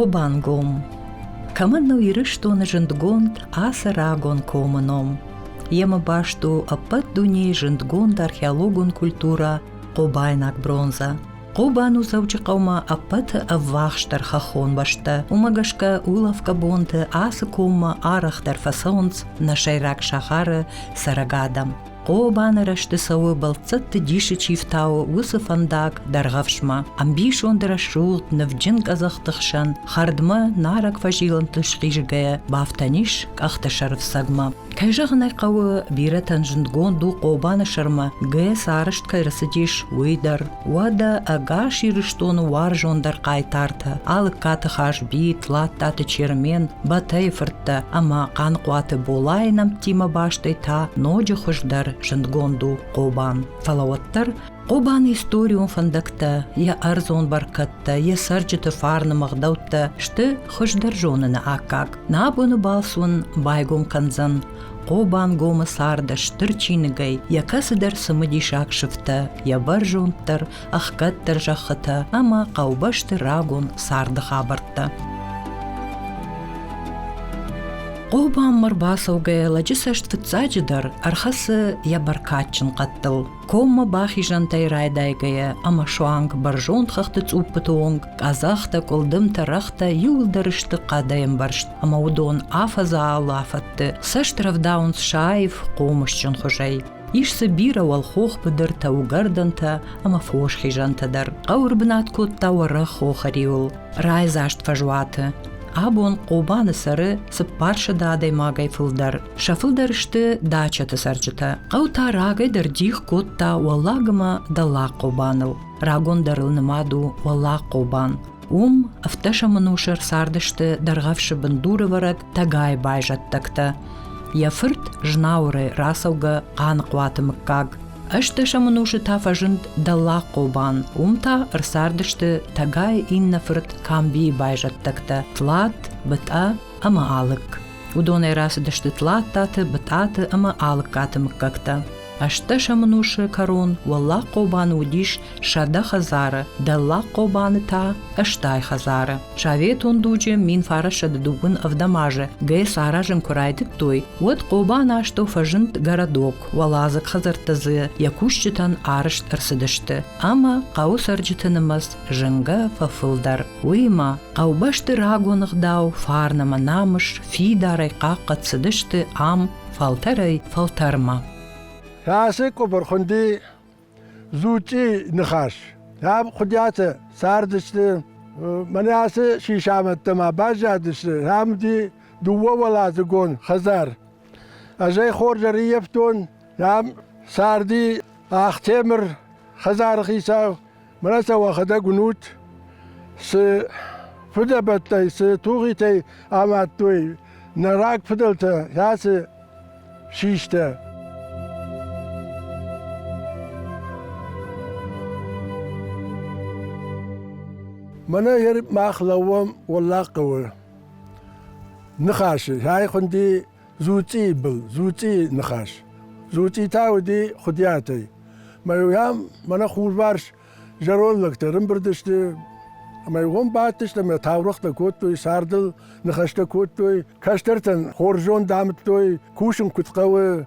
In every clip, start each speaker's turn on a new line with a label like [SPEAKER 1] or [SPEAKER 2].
[SPEAKER 1] Обангом кӕмӕн у Ирыстоны зындгонд ацы рагон комы ном. Йемӕ баст у ӕппӕт дунейы зындгонд археологон культурӕ Хъобайнаг бронза. Хъобан у Дзӕуджыхъӕумӕ ӕппӕты ӕввахсдӕр хӕххон бӕстӕ. Уымӕ гӕсгӕ улӕфгӕ бонты ацы коммӕ арӕхдӕр фӕцӕуынц нӕ сӕйраг сахары цӕрӕг адӕм. Хъобаны рӕзты цӕуы бӕлццӕтты дисы чи фтауы, уыцы фӕндаг Дӕргъӕвсмӕ. Ӕмбисонды рӕсугъд, нывджын къӕдзӕхты хсӕн хӕрдмӕ нарӕг фӕзилӕнтыл схизгӕйӕ, бафтӕн ис къӕхты сӕрфцӕгмӕ. Кӕй зӕгъын ӕй хъӕуы, бирӕтӕн зындгонд у Хъобаны сӕрмӕ ГЭС арӕзт кӕй рацыдис, уый дӕр. Уӕдӕ ӕгас Ирыстоны уарзондӕр хъайтартӕ Алыккаты Хазби, Тлаттаты Чермен, Батайы фырттӕ ӕмӕ Хъанхъуаты Болайы нӕмттимӕ бастӕй та ноджы хуыздӕр зындгонд у Хъобан. Фӕлӕ уӕддӕр Хъобаны историон фӕндӕгтӕ, йӕ ӕрдзон бӕркӕдтӕ, йӕ цӕрджыты фарны мыгъдӕуттӕ сты хуыздӕр зоныны аккаг. Нӕ бони балцун байгон кӕндзӕн, Хъобангомы царды стыр чиныгӕй йӕ кӕцыдӕр цымыдисаг сыфтӕ, йӕ бӕрзонддӕр, ӕхгӕддӕр зӕххытӕ ӕмӕ хъӕубӕсты рагон царды хабӕрттӕ. Хъобаммӕ рбацӕугӕ лӕджы цӕст фыццаджыдӕр ӕрхӕцы йӕ бӕркадджын хъӕдтыл. Коммӕ бахизӕнтӕй райдайгӕйӕ ӕмӕ суанг бӕрзонд хӕхты цъуппыты онг къӕдзӕхтӕ, къуылдымтӕ, рӕгътӕ иуылдӕр сты хъӕдӕй ӕмбӕрзт, ӕмӕ уыдон афӕдзы алафӕдты цӕст рӕвдауынц саив, хъомысджын хуызӕй. Ис дзы бирӕ уӕлхох быдыртӕ, угӕрдӕнтӕ ӕмӕ фос хизӕнтӕ дӕр. Хъӕуы рбынат кодта уӕрӕх хохы риуыл, райдзаст фӕзуаты. Абон Хъобаны цӕры цыппарсӕдз адӕймагӕй фылдӕр. Сӕ фылдӕр сты дачӕты цӕрджытӕ. Хъӕу та рагӕй дӕр дих кодта Уӕллагмӕ Дӕллаг Хъобаныл. Рагон дӕр ыл нымад у Уӕллаг Хъобан. Уым ӕфтӕсӕмы нусы ӕрцардысты дӕргъӕвсы бындуры вӕрӕд тӕгайы байзӕддӕгтӕ. Йӕ фырт Знауырӕй рацӕугӕ Хъаныхъуаты мыггаг. Ӕстдӕсӕмы нусы та фӕзынд Дӕллаг Хъобан. Уым та ӕрцардысты тӕгайы иннӕ фырт Камбийы байзӕддӕгтӕ Тлат, Бытъа ӕмӕ Алык. Уыдонӕй рацыдысты Тлаттаты, Бытъаты ӕмӕ Алыккаты мыггӕгтӕ. Ӕстдӕсӕмӕнусы кӕрон Уӕллаг Хъобаны уыдис сӕдӕ хӕдзары, Дӕллаг Хъобаны та ӕстай хӕдзары. Советон дуджы минфарӕссады дыууын ӕвдӕм азы ГЭС аразын куы райдыдтой, уӕд Хъобаны астӕу фӕзынд городок, уӕладзыг хӕдзӕрттӕ дзы йӕ кусджытӕн арӕзт ӕрцыдысты, ӕмӕ хъӕуы цӕрджыты нымӕц зынгӕ фӕфылдӕр. Уыимӕ хъӕубӕсты рагон ӕгъдау, фарн ӕмӕ намыс фидарӕй хъахъхъӕд цыдысты ам фӕлтӕрӕй фӕлтӕрмӕ. Фӕрсы
[SPEAKER 2] къуыбырхуынди Зучъи ныхас. Ам хуыдиатӕ цардысты, мӕнӕ ацы сисамӕдтӕ ма баззадысты. Ам уыди дыууӕуӕладзыгон хӕдзар. Ӕз ӕй хорз ӕрыййӕфтон. Ам царди Ахтемыр хӕдзары хицау Мара сӕ уӕхӕдӕг уинут, цы фыдӕбӕттӕй, цы тугъитӕй амадтой нӕ раг фыдӕлтӕ, кӕцы систӕ. Мӕнӕ ер мах лӕууӕм Уӕллаг хъӕуы. Ныхасы, хай хуынди Дзуцъийы был, Дзуцъийы ныхас. Дзуцъи та уыди Хуыдиатӕй. Мӕ йӕм мӕнӕ хурварс зӕронд лӕгтӕ рымбырд сты, ӕмӕ уым бадтысты ӕмӕ таурӕгътӕ кодтой, цардыл ныхӕстӕ кодтой, кӕстӕртӕн хорз зонд амыдтой, кусын куыд хъӕуы,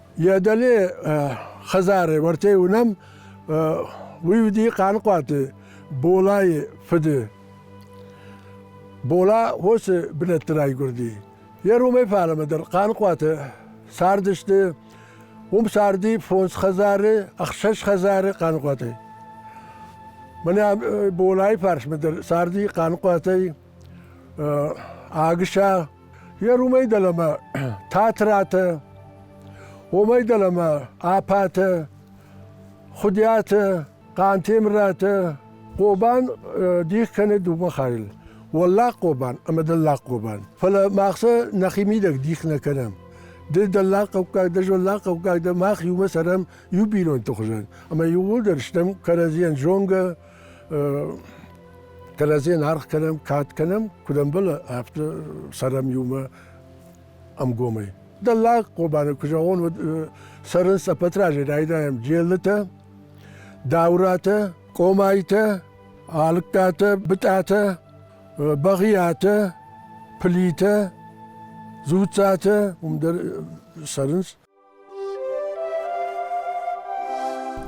[SPEAKER 2] Йӕ дӕле хӕдзары уартӕй уынӕм, уый уыди Хъаныхъуаты Болайы фыды. Бола хосы бынӕтты райгуырди. Йӕ ромӕй фалӕмӕ дӕр Хъаныхъуаты цардысты. Уым царди фондз хӕдзары, ӕхсӕз хӕдзары Хъаныхъуатӕй. Мӕнӕ Болайы фарсмӕ дӕр царди Хъаныхъуатӕй Агыса йӕ румӕй дӕлӕмӕ Татратӕ, уомӕй дӕлӕмӕ Апатӕ, Хуыдиатӕ, Хъантемыратӕ, Хъобан дих кӕны дыууӕ хайыл – Уӕллаг Хъобан ӕмӕ Дӕллаг Хъобан. Фӕлӕ мах сӕ нӕхимидӕг дих нӕ кӕнӕм. Ды дӕллагхъӕуккаг дӕ, золлагхъӕуккаг дӕ, мах иумӕ цӕрӕм иу бинонты хуызӕн. Ӕмӕ иууылдӕр стӕм кӕрӕдзийӕн зонгӕ, кӕрӕдзийӕн аргъ кӕнӕм, кад кӕнӕм, куыд ӕмбӕлы, афтӕ цӕрӕм иумӕ ӕмгомӕй. Дӕллаг Хъобаны куы зӕгъон, уӕд цӕрынц ӕппӕтразӕй райдайӕм джеллытӕ, дауратӕ, къомайтӕ, алыккатӕ, бытъатӕ, бӕгъиатӕ, плитӕ, дзуццатӕ уым дӕр цӕрынц.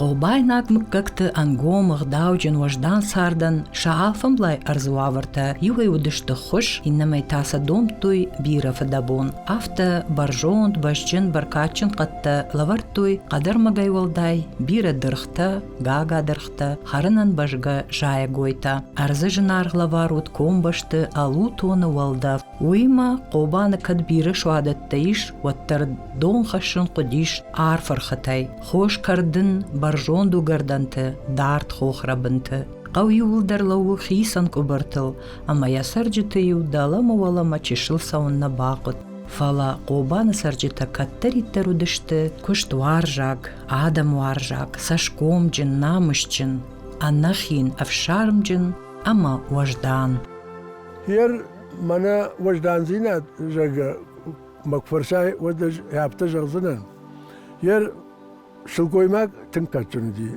[SPEAKER 1] Хъобайнаг мыггӕгты ӕнгом, ӕгъдауджын, уӕздан цардӕн сӕ алфӕмблай ӕрдзы уавӕртӕ иуӕй уыдысты хуыз, иннӕмӕй та сӕ домдтой бирӕ фыдӕбон. Афтӕ бӕрзонд, бӕзджын, бӕркадджын хъӕдтӕ лӕвӕрдтой хъӕдӕрмӕгӕй уӕлдай бирӕ дыргътӕ, гагадыргътӕ, хӕрынӕн бӕзгӕ зайӕгойтӕ. Ӕрдзы зынаргъ лӕвар уыд комбӕсты ӕлутоны уӕлдӕф. Уыимӕ Хъобаны кӕд бирӕ суадӕттӕ ис, уӕддӕр дон хӕссын хъуыдис арф ӕрхытӕй, хос кӕрдын, бӕрзонд уыгӕрдӕнты, дард хохрӕбынты. Хъӕу иууылдӕр лӕууы хицӕн къуыбыртыл, ӕмӕ йӕ цӕрджыты-иу дӕлӕмӕ-уӕлӕмӕ чысыл цӕуын нӕ бахъуыд. Фӕлӕ Хъобаны цӕрджытӕ кӕддӕриддӕр уыдысты куыстуарзаг, адӕмуарзаг, цӕсгомджын, намысджын, ӕнӕхин, ӕфсармджын ӕмӕ уӕздан. Йӕ
[SPEAKER 2] Мӕнӕ уӕздандзинад, зӕгъгӕ, мӕ куы фӕрсай, уӕд ӕз афтӕ зӕгъдзынӕн. Йе сылгоймаг тынг кадджын уыди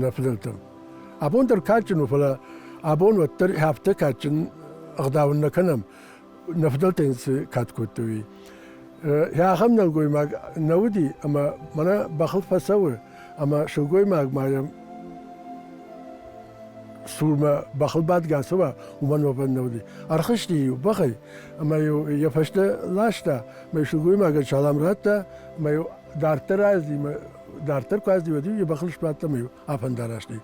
[SPEAKER 2] нӕ фыдӕлтӕм. Абон дӕр кадджын у, фӕлӕ абон уӕддӕр афтӕ кадджын ӕгъдау нӕ кӕнӕм, нӕ фыдӕлтӕ йын цы кад кодтой, уый. Ахӕм нӕлгоймаг нӕ уыди, ӕмӕ мӕнӕ бӕхыл фӕцӕуы. ӕма сылгоймаг ма йӕм цурмӕ бӕхыл бадгӕ цӕуа, уымӕн уӕвӕн нӕ уыди. Ӕрхызти-иу бӕхӕй ӕмӕ-иу йӕ фӕстӕ ласта, мӕ сылгоймагӕн салам радта, ӕмӕ-иу дарддӕр аздзи, мӕ дарддӕр куы аздзи, уӕд-иу йӕ бӕхыл сбадт ӕмӕ-иу афӕндараст и.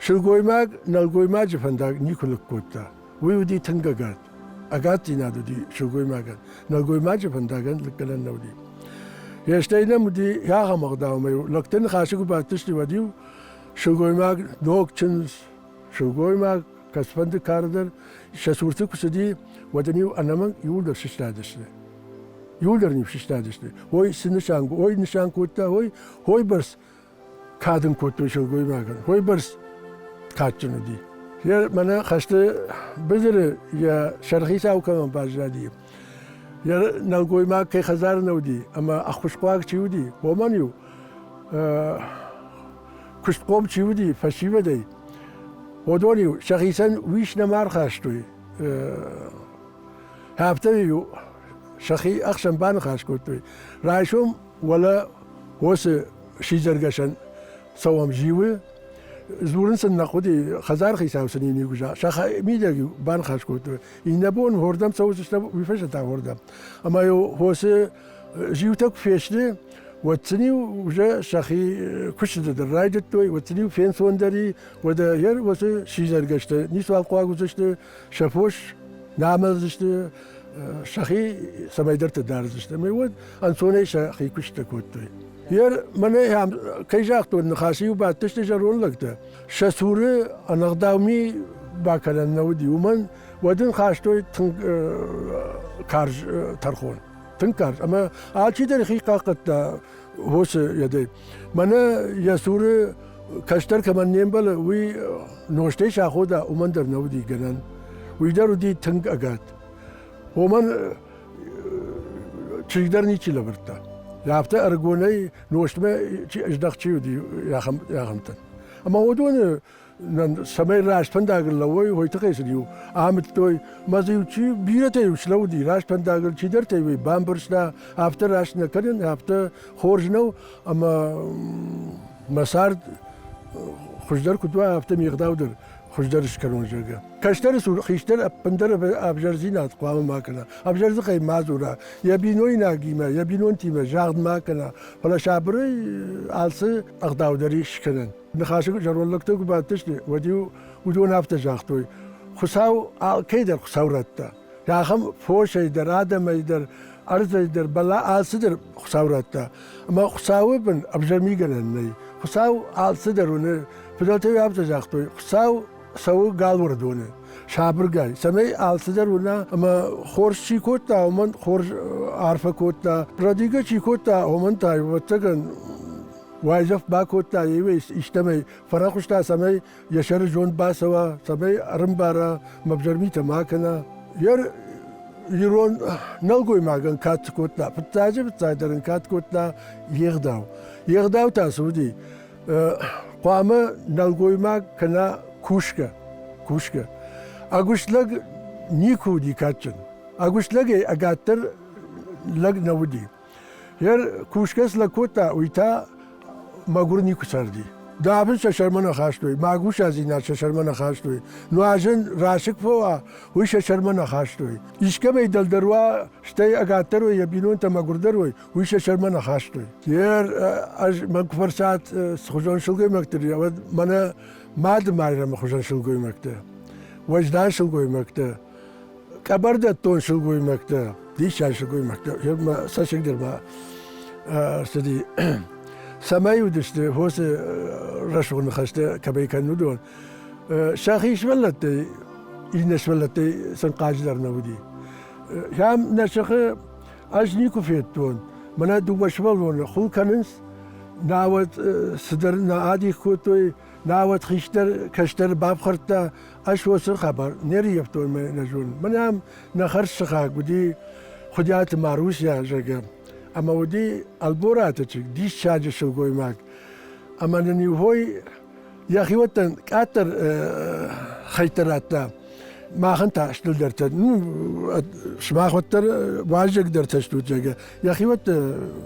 [SPEAKER 2] Сылгоймаг нӕлгоймаджы фӕндаг никуы лыг кодта. Уый уыди тынг ӕгад. Ӕгаддзинад уыди сылгоймагӕн. Нӕлгоймаджы фӕндагӕн лыггӕнӕн нӕ уыди. Йе стӕй нӕм уыди ахӕм ӕгъдаумӕ-иу лӕгты ныхасы куы бадтысты, уӕд-иу сылгоймаг, ног чындз, сылгоймаг, кӕцфӕнды кары дӕр сӕ цурты куы цыди, уӕд ын-иу ӕнӕмӕнг иууылдӕр сыстадысты. Иууылдӕр ын сыстадысты. Ой, цы нысан, ой нысан кодта, ой, ой бӕрц кад ын кодтон сылгоймагӕн. Уойбӕрц кадджын уыди. Йӕ мӕнӕ хӕсты быдыры йӕ сӕрхицау кӕмӕн баззади, йӕ нӕлгоймаг кӕй хӕдзары нӕ уыди ӕмӕ ӕххуысхъуаг чи уыди, уомӕн-иу куыстхъом чи уыди фӕсивӕдӕй, уыдон-иу сӕхицӕн уис нӕма ӕрхастой. Афтӕ-иу сӕхи ӕхсӕн баныхас кодтой. Райсом Уӕлӕ уосы сидзӕргӕсӕн цӕуӕм зиуы, дзурын сын нӕ хъуыди, хӕдзар хицау сын йын игъуыза. Сӕ мидӕг банхас кодтой. Иннӕ бон уырдӕм цӕудзыстӕм, уый фӕзыта уырдӕм. Ӕмӕ йыл хосы зиутӕ куы фесты, уӕд сын-иу уже сӕхи куыстыты дӕр райдыдтой, уӕд сын-иу фенцондӕр и, уӕдӕ йӕ уыцы сидзӕргӕстӕ ницуал хъуаг уыдзысты, сӕ фос намӕлдзысты, сӕхи цӕмӕйдӕрты дардзысты. Ӕмӕ уӕд ӕнцонӕй сӕхи куыстӕ кодтой. Ер мӕнӕ кӕй загътон, ныхасы иу бадтысты зӕронд лӕгтӕ. Сӕ цуры ӕнӕгъдауми бакӕнӕн нӕ уыди, уымӕн уӕд ын хастой тынг карз тӕрхон. Тынг карз. Ӕмӕ алчидӕр хи хъахъхъӕдта хосы йедӕй. Мӕнӕ йӕ цуры кӕстӕр кӕмӕн не мбӕлы, уый нозтӕй сахода, уымӕн дӕр нӕ уыди гӕнӕн. Уый дӕр уыди тынг ӕгад. Омӕн чызг дӕр ничи лӕвӕрдта. Афтӕ ӕрыгонӕй нозтмӕ ӕздӕхт чи уыди, ахӕмтӕн. Ӕмӕ уыдоны цӕмӕй раст фӕндагыл лӕууой, уый тыххӕй сын-иу амыдтой. Мӕ дзы-иу чи бирӕтӕ-иу слӕууыди, раст фӕндагыл, чидӕртӕ-иу ӕй бамбӕрста, афтӕ раст нӕ кӕнын, афтӕ хорз нӕу, ӕмӕ мӕ цард хуыздӕр куыд уа, афтӕ ме гъдау дӕр хуыздӕр скӕнон, зӕгъгӕ. Кӕстӕры цур хистӕр ӕппындӕр ӕвзӕрдзинад хъуамӕ ма кӕна, ӕвзӕрдзыхӕй ма дзура, йӕ бинойнагимӕ, йӕ бинонтимӕ загъд ма кӕна, фӕлӕ сабырӕй алцы ӕгъдау дӕр ис скӕнӕн. Ныхасы зӕронд лӕгтӕ куы бадтысты, уӕд-иу уыдон афтӕ загътой, Хуыцау алкӕйдӕр Хуыцау радта. Ахӕм фосӕй дӕр, адӕмӕй дӕр, ӕрдзӕй дӕр, бӕлӕ алцыдӕр Хуыцау радта. Ӕмӕ Хуыцауы бын ӕвзӕрмигӕнӕн нӕй. Хуыцау алцыдӕр уыны. Фыдӕлтӕй афтӕ загътой, Хуыцау цӕуы галуӕрдоны сабыргай, цӕмӕй алцыдӕр уына, ӕмӕ хорз чи кодта, уымӕн хорз арфӕ кодта. Радигӕ чи кодта, уымӕн та, ӕвӕццӕгӕн, уайдзӕф бакодта, еуӕй истӕмӕй фӕрӕхуыста, цӕмӕй йӕ сӕры зонд бацӕуа, цӕмӕй ӕрымбара, мӕвзӕр митӕ ма кӕна. Йе ирон нӕлгоймагӕн кад цы кодта, фыццаджы фыццагдӕр ын кад кодта йе гъдау. Йе гъдау та цы уыди? Хъуамӕ нӕлгоймаг кӕна кусгӕ. Кусгӕ. Ӕгуыст лӕг никуы уыди кадджын. Ӕгуыст лӕгӕй ӕгаддӕр лӕг нӕ уыди. Йе кусгӕ цы лӕг кодта, уый та мӕгуыр никуы царди. Давын сӕ сӕрмӕ нӕ хастой, магусадзинад сӕ сӕрмӕ нӕ хастой. Нуазӕн расыг фӕ уа, уый сӕ сӕрмӕ нӕ хастой. Искӕмӕй дӕлдӕр уа, стӕй ӕгаддӕр уой, йӕ бинонтӕ мӕгуырдӕр уой, уый сӕ сӕрмӕ нӕ хастой. Йе ӕз мӕн куы фӕрсат цхуызон сылгоймӕгты, уӕд мӕнӕ Мады Майрӕмы хуызӕн сылгоймӕгтӕ, уӕздан сылгоймӕгтӕ, Къӕбӕр дӕттон сылгоймӕгтӕ, диссаг сылгоймӕгтӕ, ма цӕссыгдӕр ма ӕрцыди. Цӕмӕй уыдысты фосы рӕсугъд ныхӕстӕ кӕмӕй кӕнын, уыдон. Сӕхи сывӕллӕттӕй, иннӕ сывӕллӕттӕй сын хъаджыдӕр нӕ уыди. Ам нӕ сыхы ӕз никуы федтон. Мӕнӕ дыууӕ сывӕллоны ху кӕнынц, науӕд цыдӕр нӕ адих кодтой, Науӕд хистӕр кӕстӕр бафхӕрдта, ӕз уоцы хабар не рййӕфтон мӕ нӕзон. Мӕнӕм нӕ хӕрзсыхаг уыди Хуыдиаты Маруся, зӕгъгӕ, ӕмӕ уыди Ӕлбораты чызг, диссаджы сылгоймаг. Ӕмӕ нын иу хой йӕхиуӕттӕн къаддӕр хӕйттӕ радта. Махӕн та стылдӕртӕ. Ну, сымах уӕддӕр уазӕгдӕртӕ стут, зӕгъгӕ. Йӕхиуӕтты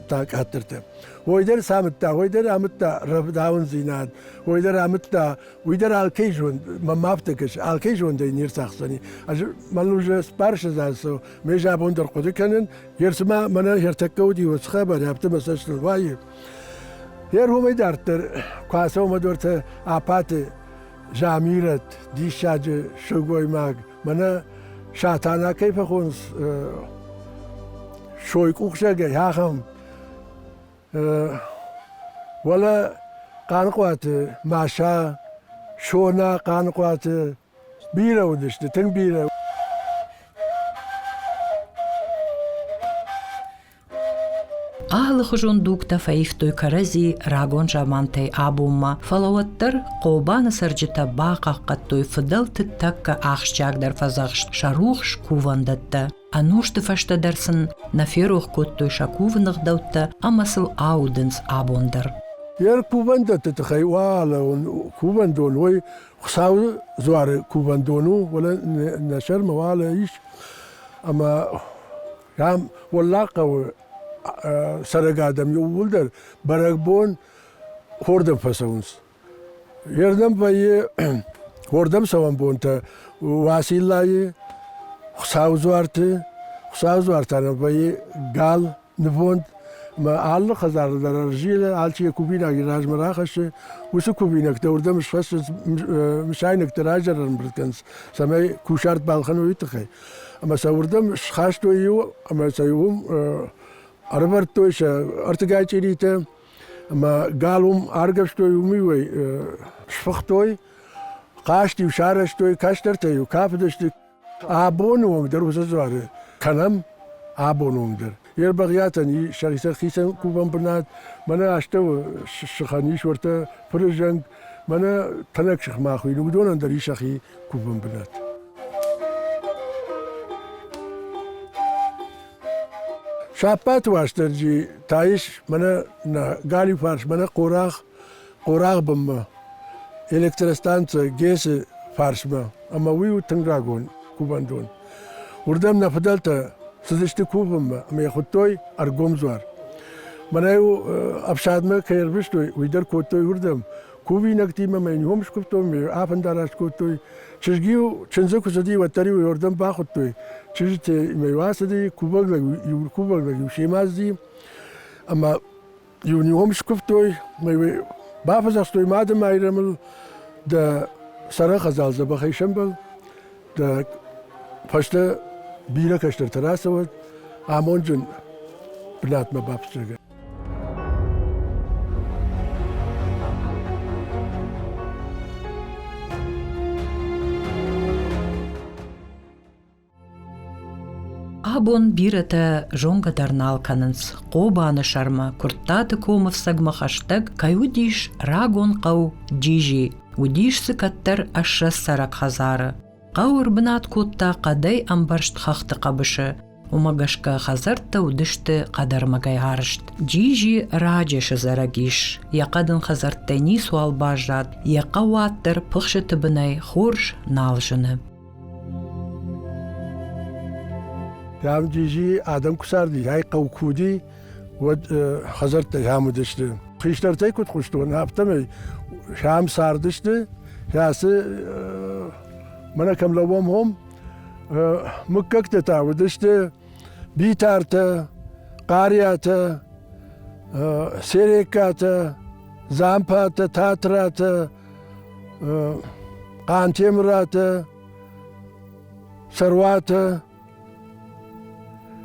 [SPEAKER 2] та къаддӕртӕ. Уой дӕр самыдта, уой дӕр амыдта рӕвдауындзинад, уой дӕр амыдта, уый дӕр алкӕй зонд, мӕм афтӕ кӕс, алкӕй зондӕй не рцахсдзӕни. Ӕз мӕн уже сбарсыдзӕнсо, ме забон дӕр хъуыды кӕнын, ерсымӕ мӕнӕ ертӕккӕ уыди уыцы хабар, афтӕ мӕ цӕстыл ваййы. Ерхомӕй дарддӕр куы ацӕуӕм дортӕ апаты Замирӕт, диссаджы сылгоймаг, мӕнӕ Сатана кӕй фӕхонс сойкъухсӕгӕй, ахӕм Уӕлӕ Хъаныхъуаты Маша, Сона, Хъаныхъуаты бирӕ уыдысты, тынг бирӕ.
[SPEAKER 1] Алыхуызон дугтӕ фӕивтой кӕрӕдзи рагон замантӕй абонмӕ, фӕлӕ уӕддӕр Хъобаны цӕрджытӕ бахъахъхъӕдтой фыдӕлты тӕккӕ ахсджиагдӕр фӕдзӕхст сӕ рухс кувӕндӕттӕ. Ӕнусты фӕстӕ дӕр сын нӕ ферох кодтой сӕ кувы ныгъдӕуттӕ ӕмӕ сыл аудынц абон дӕр. Йе
[SPEAKER 2] кувӕндӕтты тыххӕй уӕлӕуон кувӕндон уой Хуыцауы дзуары кувӕндон у, уӕлӕ нӕ сӕрмӕ уӕлӕ ис, ӕмӕ ам уӕллаг хъӕуы цӕрӕг адӕм иууылдӕр бӕрӕгбон хордӕм фӕцӕуынц. Уердӕм вӕййы уордӕм цӕуӕн бонтӕ Уациллайы, Хуцауы дзуарты. Хуцауы дзуартӕ нӕ вӕййы гал, нывонд, ӕмӕ алы хӕдзары дӕр ӕрзилы, алчи йӕ кувинаг йӕ размӕ рахӕссы. Уыцы кувинӕгтӕ уырдӕм схӕссынц, мысайнӕгты раджы ӕрӕмбырд кӕнынц, цӕмӕй кусарт балхӕной уый тыххӕй. Ӕмӕ сӕ уырдӕм схастой иу, ӕмӕ сӕ иу ӕрывӕрдтой сӕ ӕртыгай чъиритӕ, Ӕмӕ гал уым аргӕвстой, уымӕй сфыхтой, хъазт-иу сарӕзтой, кӕстӕртӕ-иу кафыдысты. Абоны онг дӕр уыцы дзуары кӕнӕм, абоны онг дӕр. Йе рбӕгъиатӕн и сӕхицӕн хицӕн кувӕн бынат, мӕнӕ астӕуы сыхӕн ис уӕртӕ фырзӕнг, мӕнӕ тӕнӕг сыхмӕ хуыйны, уыдонӕн дӕр и сӕхи кувӕн бынат. Сӕппӕты Уастырджи та ис мӕнӕ нӕ галиуфарс, мӕнӕ хъорагъ, хъорагъ бынмӕ, электростанцӕ ГЭС-ы фарсмӕ, ӕмӕ уый у тынг рагон кувӕндон. Уырдӕм нӕ фыдӕлтӕ цыдысты кувынмӕ ӕмӕ йӕ хуыдтой ӕргомдзуар. Мӕнӕ-иу ӕфсадмӕ кӕй ӕрвыстой, уый дӕр кодтой уырдӕм. кувинӕгтимӕ мӕ ном скуывтой, ме афӕндараст кодтой. Чызг-иу, чындзы куы цыди, уӕддӕр-иу уордӕм бахуыдтой. Чызджыты мӕ ацыди, кувӕг кувӕг лӕг-иу семӕзди, ӕмӕ иу ном скуывтой, мӕ бафӕдзӕхстой Мады Майрӕмыл, дӕ сӕрӕн хӕдзал дзӕбӕхӕй сӕмбӕл, дӕ фӕстӕ бирӕ кӕстӕртӕ рацӕуӕд, амонджын бынатмӕ бафтдзӕгӕн.
[SPEAKER 1] Абон бирӕтӕ зонгӕ дӕр нал кӕнынц Хъобаны сӕрмӕ Куырттаты комыфсӕгмӕ хӕстӕг кӕй уыдис рагон хъӕу Джижи, уыдис дзы кӕддӕр ӕссӕ цӕрӕг хӕдзары. Хъӕу ӕрбынат кодта хъӕдӕй ӕмбӕрзт хӕхты хъӕбысы. Уымӕ гӕсгӕ хӕдзӕрттӕ уыдысты хъӕдӕрмӕгӕй арызт. Джиджи раджы сызарӕг ис. Йӕ хъӕдын хӕдзӕрттӕй ницуал баззад, йӕ хъӕу уӕддӕр пыхсыты бынӕй хорз нал зыны.
[SPEAKER 2] Дам, Джиджи адӕм куы царди, ай хъӕу куы уыди, уӕд хӕдзӕрттӕ сӕм уыдысты. Хистӕртӕй куыд хъуыстон, афтӕмӕй сӕм цардысты. Сӕцы мӕнӕ кӕм лӕууӕм, хом мыггӕгтӕ та уыдысты Битартӕ, Хъариатӕ, Сереккатӕ, Дзампатӕ, Татратӕ, Хъантемыратӕ, Сӕруатӕ,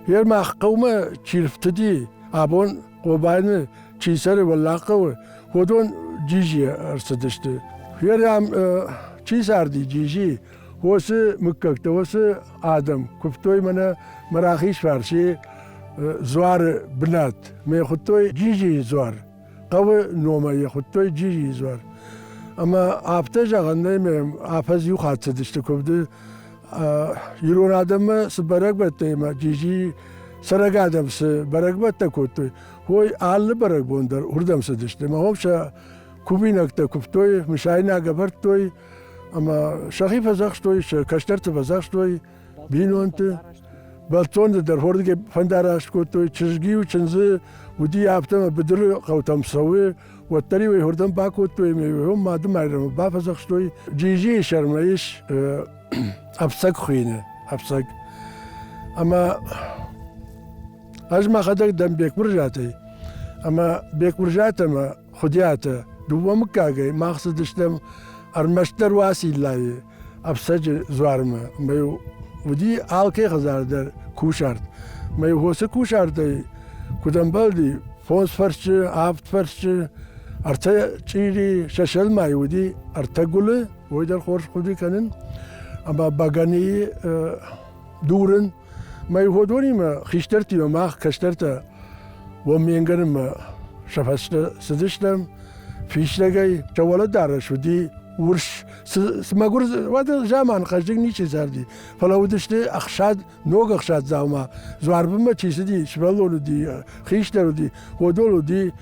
[SPEAKER 2] Йе мах хъӕумӕ чи рфтыди, абон Хъобайны чи цӕры Уӕллаг хъӕуы, уыдон джиджи ӕрцыдысты. Йе рӕм чи царди джиджи, уыцы мыггӕгтӕ, уыцы адӕм куывтой мӕнӕ мӕ рахиз фарси дзуары бынат. Мӕ хуыдтой джиджийы дзуар. хъӕуы номӕй йӕ хуыдтой Джизи изӕр. Ӕмӕ афтӕ зӕгъӕн нӕй ме афӕдз иу хатт цыдысты куывды ирон адӕммӕ цы бӕрӕгбӕттӕ ӕмӕ Джизи цӕрӕг адӕм цы бӕрӕгбӕттӕ кодтой, уой алы бӕрӕгбон дӕр уырдӕм цыдысты. Мӕ хом сӕ кувинӕгтӕ куывтой, мысайнаг ӕвӕрдтой, ӕмӕ сӕхи фӕдзӕхстой, сӕ кӕстӕрты фӕдзӕхстой, бинонты. Бӕлццонты дӕр хордыгӕй фӕндараст кодтой, чызг-иу чындзы уыди афтӕ, ӕмӕ быдыры хъӕутӕм цӕуы, уӕддӕр-иу ӕй хордӕм бакодтой, ӕмӕ йӕ Мады Майрӕмы бафӕдзӕхстой. Джиджийы сӕрмӕ ис ӕфцӕг хуыйны, ӕфцӕг. Ӕмӕ ӕз мӕхӕдӕг дӕн Бекбурзатӕй. Ӕмӕ Бекбурзатӕ ӕмӕ Хуыдиатӕ дыууӕ мыггагӕй мах цыдыстӕм ӕрмӕстдӕр Уациллайы. ӕфцӕджы дзуармӕ. Мӕ уыди алкӕй хӕдзар дӕр кусарт. Мӕ хосы кусартӕй куыд ӕмбӕлди, фондз фӕрсчы, авд фӕрсчы, ӕртӕ чъири, сӕсӕлмӕй уыди ӕртӕ гуылы, уый дӕр хорз хъуыды кӕнын. Ӕмӕ бӕгӕныйы дурын. Мӕ ходонимӕ хистӕртимӕ мах кӕстӕртӕ Уомменгӕнымӕ сӕ фӕстӕ цыдыстӕм. Фистӕгӕй сӕ уӕлӕдарӕс уыди урс Цы мӕгуыр уӕды заман хъӕздыг ничи зарди, фӕлӕ уыдысты ӕхсад, ног ӕхсад дзаума. Дзуарбынмӕ чи цыди, сывӕллон уыди, хистӕр уыди, ходол уыди,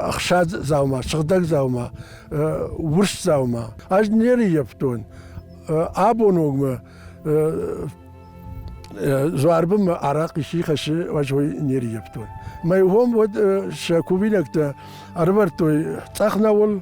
[SPEAKER 2] ӕхсад дзаума, сыгъдӕг дзаума, урс дзаума. Ӕз не рыййӕфтон. Абоногмӕ Зуарбынмӕ арахъ исчи хӕссы, ӕз уый не рыййӕфтон. Мӕ уым уӕд сӕ кувинӕгтӕ ӕрвӕрдтой цъӕх науыл,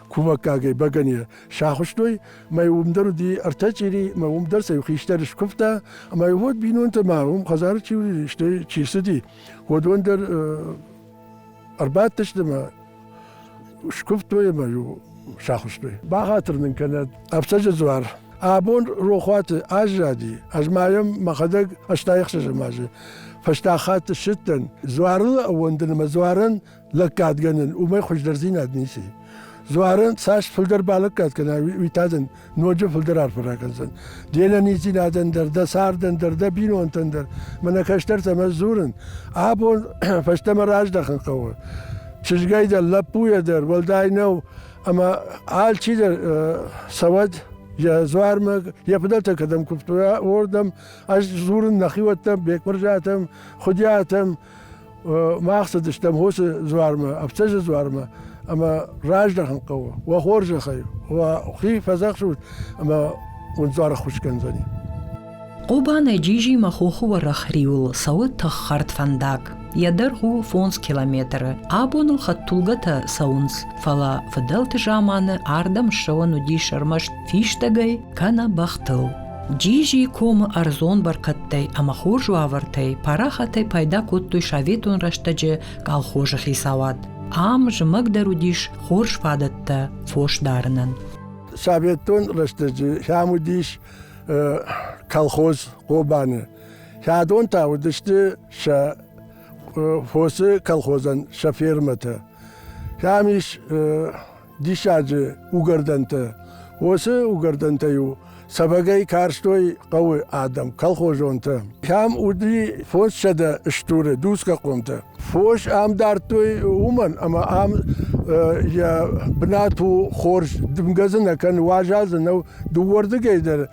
[SPEAKER 2] кумӕггагӕй бӕгӕнийӕ сахуыстой, мӕ уым дӕр уыди ӕртӕ чъири, мӕ уым дӕр сӕ иу хистӕр скуывта, ӕмӕ уӕд бинонтӕ ма уым хӕдзары чи уыди, стӕй чи цыди, уыдон дӕр ӕрбадтысты мӕ скуывтой ӕмӕ-иу сахуыстой. Бахатыр нын кӕнӕд Ӕфцӕджы дзуар. Абон рохуаты аззади. Ӕз ма йӕм мӕхӕдӕг ӕстайӕхсӕзӕм азы фӕстаг хатт ссыдтӕн. Дзуарыл ӕууӕндын ӕмӕ дзуарӕн лӕггадгӕнӕн, уымӕй хуыздӕрдзинад ницы. Дзуарӕн цас фылдӕр балӕггад кӕна, уый та дын ноджы фылдӕр арфӕ ракӕндзӕн. Де нӕниздзинадӕн дӕр, дӕ цардӕн дӕр, дӕ бинонтӕн дӕр мӕнӕ кӕстӕртӕмӕ дзурын. Абон фӕстӕмӕ раздӕхын хъӕуы. Чызгай дӕр, лӕппуйӕ дӕр уӕлдай нӕу, ӕмӕ алчидӕр цӕуӕд йӕ дзуармӕ, йӕ фыдӕлтӕ кӕдӕм куывтой, уырдӕм. Ӕз дзурын нӕхиуӕттӕм, Бекмырзатӕм, Хуыдиатӕм, Мах цыдыстӕм хосы дзуармӕ, ӕфцӕджы дзуармӕ, ӕмӕ раздӕхын хъӕуы. Уӕ хорзӕхӕй, уӕ хи фӕдзӕхсут, ӕмӕ уын дзуары ххуыс кӕндзӕни. Хъобанӕй
[SPEAKER 1] Джижимӕ хохы уӕрӕх риуыл цӕуы тыххӕрд фӕндаг. Йӕ дӕргъ у фондз километры. Абоныл хӕдтулгӕтӕ цӕуынц, фӕлӕ фыдӕлты заманы ардӕм ссӕуӕн уыдис ӕрмӕст фистӕгӕй кӕнӕ бӕхтыл. Джизи комы ӕрдзон бӕркӕдтӕй ӕмӕ хорз уавӕртӕй парахатӕй пайда кодтой советон рӕстӕджы колхозы хицауад. Ам зымӕгдӕр уыдис хорз фадӕттӕ фос дарынӕн. Советон
[SPEAKER 2] рӕстӕджы хӕм уыдис колхоз Хъобаны. Хӕдон та уыдысты сӕ фосы колхозӕн сӕ фермӕтӕ. Хӕм ис диссаджы угӕрдӕнтӕ. Уыцы угӕрдӕнтӕ-иу сӕвӕгӕй карстой хъӕуы адӕм, колхозонтӕ. Кӕм уыди фос сӕдӕ стуры дуцгӕхъомтӕ. Фос ам дардтой уымӕн, ӕмӕ ам йӕ бынат у хорз, дымгӕ дзы нӕ кӕны, уазал дзы нӕу. Дыууӕрдыгӕй дӕр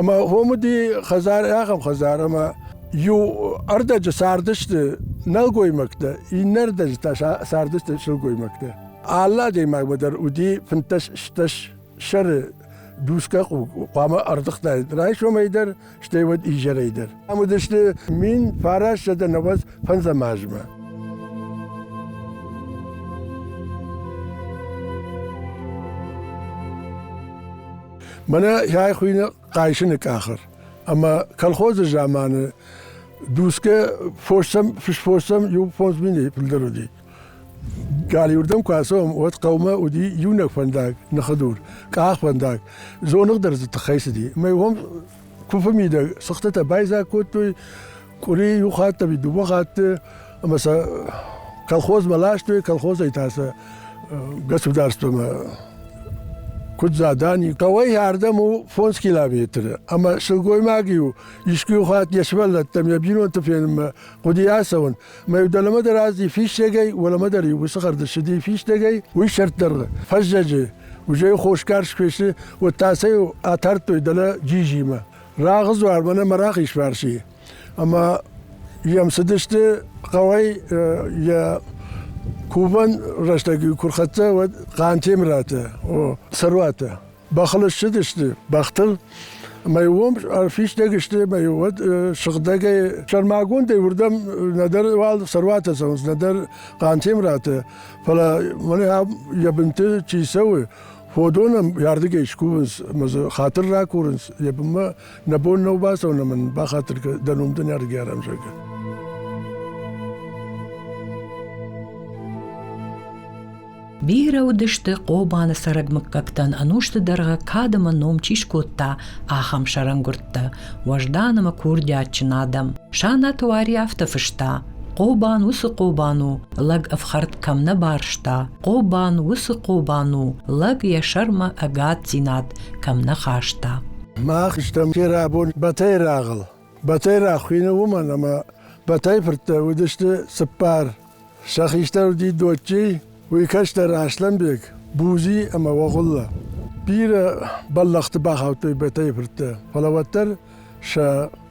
[SPEAKER 2] Ӕмӕ уым уыди хӕдзар, ахӕм хӕдзар, ӕмӕ иу ӕрдӕджы цардысты нӕлгоймӕгтӕ, иннӕ ӕрдӕджы та цардысты сылгоймӕгтӕ. Алы адӕймагмӕ дӕр уыди фынддӕс-стӕс сӕры дусгӕ къух хъуамӕ ӕрдыгътаид райсомӕй дӕр, стӕй уӕд изӕрӕй дӕр. Ам уыдысты мин фараст сӕдӕ нӕуӕдз фӕндзӕм азмӕ. Мӕнӕ йӕ хуыйны Хъайсыны къахыр. Ӕмӕ колхозы заманы дусгӕ фосӕм, фысфосӕм иу фондз минӕй фылдӕр уыди. Галиуырдӕм куы ацӕуӕм, уӕд хъӕумӕ уыди иунӕг фӕндаг, ныхыдур, къахфӕндаг. Дзоныгъ дӕр дзы тыххӕй цыди. Мӕ уым куыфы мидӕг сыхтытӕ байдзаг кодтой, къури иу хатт ами дууӕ хатты ӕма сӕ колхозмӕ ластой колхозӕй та сӕ государствӕмӕ куд задани кауӕй ардӕм у фондз километры ӕма сылгоймаги-ю искуи хатт не сувӕллӕттӕм йӕ бинонты фенунмӕ гъуди ацӕун ма-иу дӕлӕмӕ дӕр азди фистӕгӕй уӕлӕмӕ дӕр-иу уыцы хӕрдысщыди фистӕгӕй уый сӕрддӕр фӕззӕджы узӕй хосгарс куы фесы уӕд та сӕ-иу атардтой дӕлӕ джижимӕ Рагъы дзуар мӕнӕ мӕ рахизфарси. Ӕмӕ йӕм цыдысты хъӕуӕй йӕ кувӕн рӕстӕг куы рхӕццӕ, уӕд Хъантемыраты цӕруатӕ. Бӕхыл ссыдысты бӕхтыл, ӕмӕ уым ӕрфистӕг сты, ӕмӕ уӕд сыгъдӕгӕй сӕрмагондӕй уырдӕм нӕдӕр уал цӕруатӕ цӕуынц, нӕдӕр Хъантемыраты. Фӕлӕ мӕнӕ йӕ бынты чи цӕуы, Фодонам ардыгӕй скувынц ӕмӕ дзы хатыр ракурынц, йӕ бынмӕ нӕ бон нӕу бацӕуын ӕмӕ бахатыр дӕн уым дын ӕргӕрӕм, зӕгъгӕ.
[SPEAKER 1] Бирӕ уыдысты Хъобаны цӕрӕг мыггӕгтӕн ӕнусты дӕргъы кад ӕмӕ ном чи скодта, ахӕм сӕрӕнгуырдтӕ, уӕздан ӕмӕ курдиатджын адӕм. Санаты Уари афтӕ фыста: Хъобан уыцы Хъобан у, лӕг ӕфхӕрд кӕм нӕ барста, Хъобан уыцы Хъобан у, лӕг йӕ сӕрмӕ ӕгаддзинад кӕм нӕ хаста. Мах стӕм
[SPEAKER 2] ферӕбон Батайрагъыл. Батайраг хуыйны уымӕн, ӕмӕ Батайфырттӕ уыдысты цыппар. Сӕ хистӕр уыди Доччи, уый кӕстӕр Аслӕнбег, Бузи ӕмӕ Огъуlla. Бирӕ бӕллӕхты бахаудтой Батайфырттӕ, фӕлӕ уӕддӕр сӕ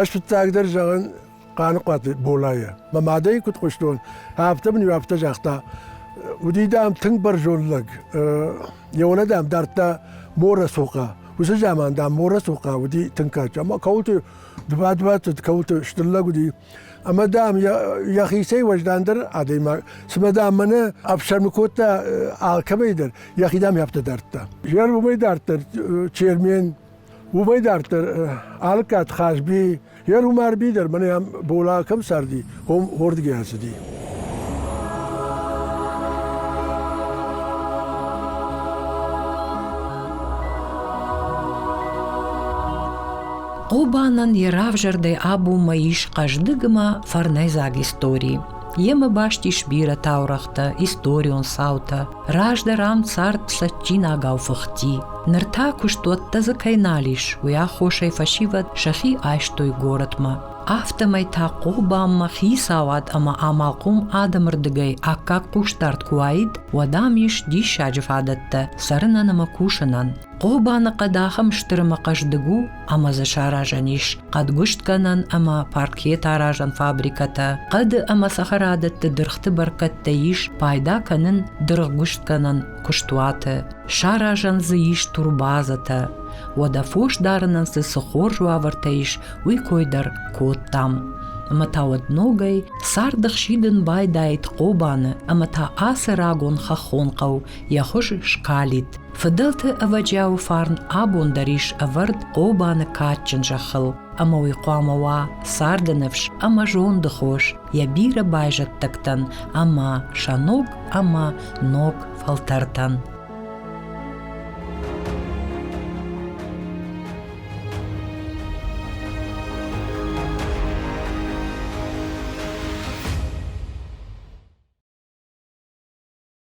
[SPEAKER 2] Ӕз фыццагдӕр зӕгъын Хъаныхъуаты Болайӕ. Мӕ мадӕй куыд хъуыстон, афтӕ мын иу афтӕ загъта. Уыди, дам, тынг бӕрзонд лӕг. Йӕ уӕлӕ, дам, дардта Моросохъа. Уыцы заман, дам, Моросохъа уыди тынг кадджын. Ӕмӕ кӕуылты дывад-дуад цыд, кӕуылты стыр лӕг уыди. Ӕмӕ, дам, йӕхицӕй уӕздандӕр адӕймаг. Цымӕ, дам, мӕнӕ ӕфсӕрмы кодта алкӕмӕй дӕр, йӕхи, дам, йӕ афтӕ дардта. Жер уымӕй дарддӕр Чермен, Уымӕй дарддӕр Алыккат Хазби йӕ Румарби дӕр мӕнӕ ам бола кӕм царди, уым уырдыгӕй ацыди.
[SPEAKER 1] Хъобанӕн йӕ равзӕрдӕй абуммӕ ис хъӕздыг ӕмӕ фӕрнӕйдзаг истори. Емӕ баст ис бирӕ таурӕгътӕ, историон цаутӕ. Раздӕр ам цард цӕджджинагау фыхти. Ныр та куыстуӕттӕ дзы кӕй нал ис, уый аххосӕй фӕсивӕд сӕхи айстой горӕтмӕ. Афтӕмӕй та Хъобанмӕ хицауад ӕмӕ амалхъом адӕмы рдыгӕй аккаг хъусдард куы уаид, уӕд ам ис диссаджы фадӕттӕ цӕрынӕн ӕмӕ кусынӕн. Хъобаныхъӕд ахӕм стыр ӕмӕ хъӕздыг у, ӕмӕ дзы саразӕн ис хъӕдгуыстгӕнӕн ӕмӕ паркеты аразӕн фабрикӕтӕ. Хъӕды ӕмӕ цӕхӕрадӕтты дыргъты бӕркӕдтӕ ис пайда кӕнын дыргъгуыстгӕнӕн куыстуаты. Саразӕн дзы ис турбазӕтӕ. Уӕдӕ фос дарынӕн цы цы хорз уавӕртӕ ис, уый кой дӕр кодтам. Ӕмӕ та уӕд ногӕй царды хсидын байдаид Хъобаны, ӕмӕ та ацы рагон хӕххон хъӕу йӕ хуыз скалид. Фыдӕлты ӕвӕджиауы фарн абон дӕр ис ӕвӕрд Хъобаны кадджын зӕххыл, ӕмӕ уый хъуамӕ уа царды ныфс ӕмӕ зонды хос йӕ бирӕ байзӕддӕгтӕн ӕмӕ сӕ ног ӕмӕ ног фӕлтӕртӕн.